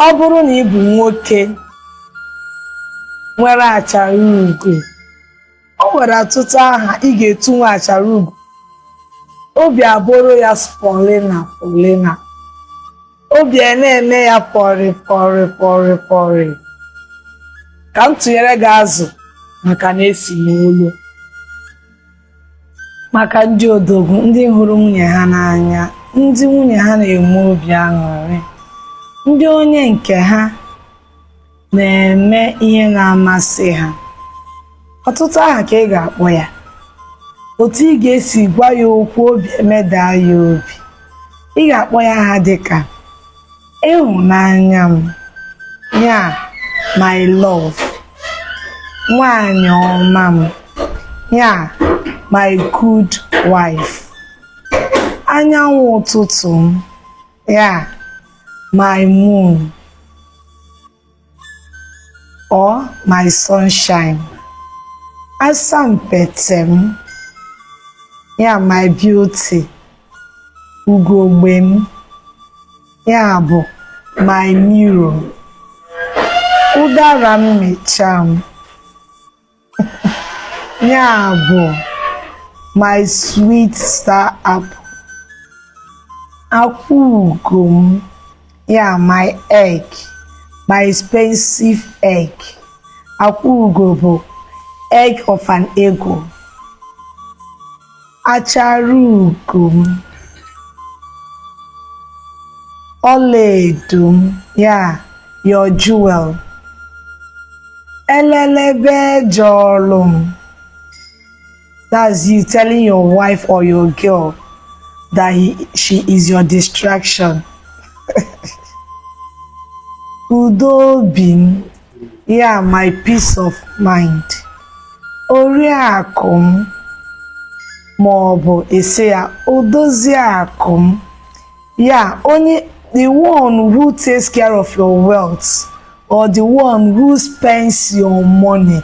ọ bụrụ na ị bụ nwoke nwere achara ugo o nwere ọtụtụ aha ị ga-etu nwa achara ugo obi abụrụ ya polina polina obi a na-eme ya pọrị pọrị pọrị pọrị ka m tụnyere gị azụ maka na e si n'olu maka ndị odogwu ndị hụrụ nwunye ha n'anya ndị nwunye ha na-enwe obi aṅụrị ndị onye nke ha na-eme ihe na-amasị ha ọtụtụ aha ka ị ga-akpọ ya otu ị ga-esi gwa ya okwu obi emedaa ya obi ị ga-akpọ ya aha dịka ịhụnanya m ya my love nwanyị ọma m ya my good wife anyanwụ ụtụtụ m ya my moon or my sunshine asampete m ya my beauty ugogbe m ya bụ my mirror ụdara mmịcha m ya bụ my sweet star apple akwa ugo m ya my egg my expensive egg akwa ugo bụ egg of an eagle achara ugo m ọlaedo m ya your jewel elelebe jọlụ m that's you telling your wife or your girl that he, she is your distraction udo obi m ya my peace of mind oriakụ m ma ọ bụ ị sị ya odozi akụ m ya onye the one who takes care of your wealth or the one who spends your money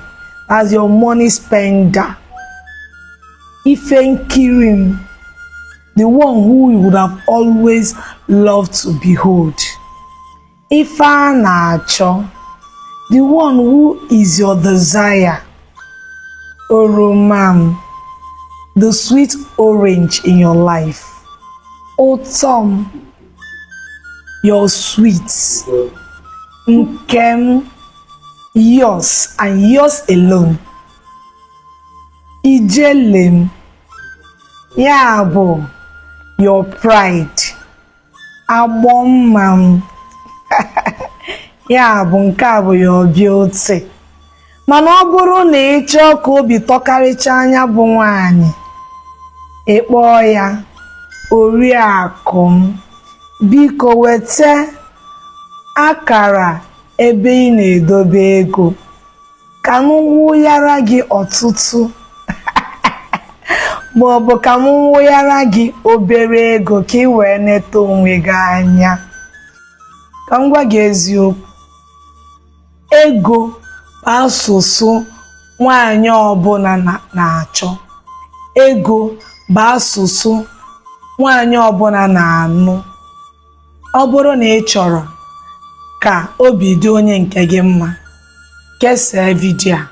as your money spender ife nkiri m the one who you would have always loved to behold. Ife a na-achọ. The one who is your desire. Oroma m. The sweet orange in your life. Ụtọ m. Your sweet. Nke m. Yours and yours alone. Ijele m. Ya bụ your pride. agbọ mma m ya bụ nke a bụ your beauty mana ọ bụrụ na ị chọọ ka obi tọkarịchaa ya bụ nwaanyị ị kpọọ ya oriakụ m biko weta akara ebe ị na-edobe ego ka m wụghara gị ọtụtụ ma ọ bụ ka m wụghara gị obere ego ka ị wee neta onwe gị anya ka m gwa gị eziokwu ego bụ asụsụ nwaanyị ọbụla na-achọ ego bụ asụsụ nwaanyị ọbụla na-anụ Ọ bụrụ na ị chọrọ ka obi dị onye nke gị mma, kesaa vidiyo a,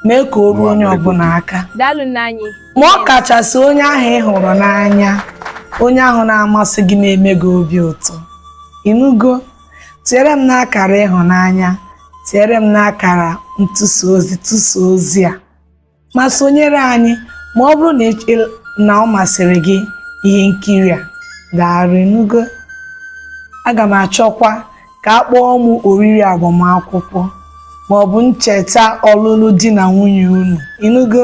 mee ka o ruo onye ọbụla aka, ma ọ kachasị onye ahụ ị hụrụ n'anya, onye ahụ na-amasị gị na-eme gị obi ụtọ. Ịnụgo? Tinyere m n'akara ịhụnanya, tinyere m n'akara ntụsa ozi, tụsa ozi a. ma sonyere anyị ma ọ bụrụ na ị- ị- na ọ masịrị gị ihe nkiri a gaara ịnụgo aga m achọkwa ka a kpọọ m oriri agbamakwụkwọ ma ọ bụ ncheta ọlụlụ di na nwunye unu ịnụgo